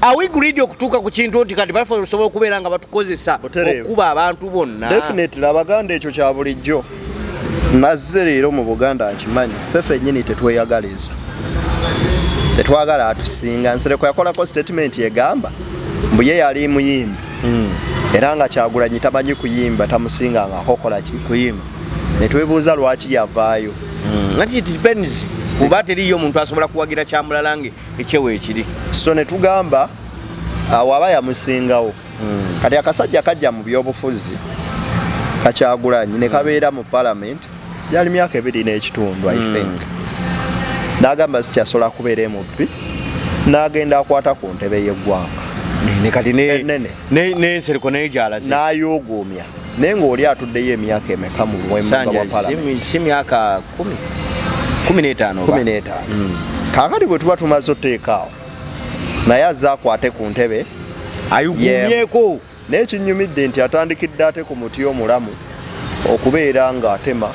are we greedy okutuuka ku kintu nti kati basobola okubeera nga batukozesa okukuba abantu bonna definitely Abaganda ekyo kya bulijjo nazze leero mu buganda nkimanyi ffe fennyini tetweyagaliza tetwagala atusinga nsereko yakolako sitatimenti egamba mbu ye yali muyimbi hmm. era nga kyagulanyi tamanyi kuyimba tamusinga nga akokola ki kuyimba netwebuuza lwaki yavaayo hmm. nati it depends kuba teriyo omuntu asobola kuwagira kyamulala nga ekyewo ekiri so netugamba awaba yamusingawo mm. kati akasajja kajja mu byobufuzi kakyagulanyi ne kabeera mu parliament gyali myaka ebiri n'ekitundu i mm. think n'agamba zikyasobola kubeera emubbi n'agenda akwata ku ntebe y'eggwanga kati n'ensereko naye gyalaze n'ayuuguumya naye ng'oli atuddeyo emyaka emeka mu si myaka kumi n'etaano kumi n'etaano mm. kaakati bwe tuba tumaze oteekaawo naye azze akwate ku ntebe ayugumyeko naye kinyumidde nti atandikidde ate ku muti omulamu okubeera ng'atema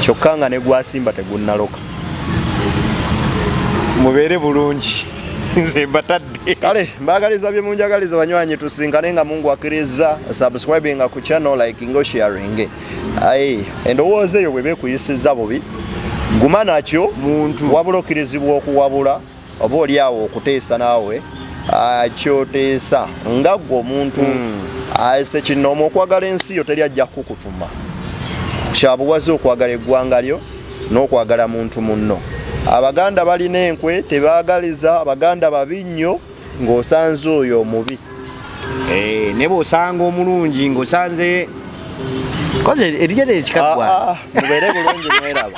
kyokka nga ne gwasimba tegunnaloka mubeere bulungi nze mbatadde kale mbagaliza bye munjagaliza banywanyi tusinkane nga mungu akiriza subscribing ku channel like ngo sharing aye endowooza eyo bweba ekuyisiza bubi guma nakyo muntu wabula okirizibwa okuwabula oba oli awo okuteesa naawe ah, kyoteesa nga gwe omuntu mm. ase kinoomu okwagala ensi yo teri ajja kukutuma kyabuwaze okwagala eggwanga lyo n'okwagala muntu munno abaganda balina enkwe tebagaliza abaganda babi nnyo ng'osanze oyo omubi eh, ne bwosanga omulungi ng'osanze koze eriyo nekikagwa ah, ah, mubeere bulungi mweraba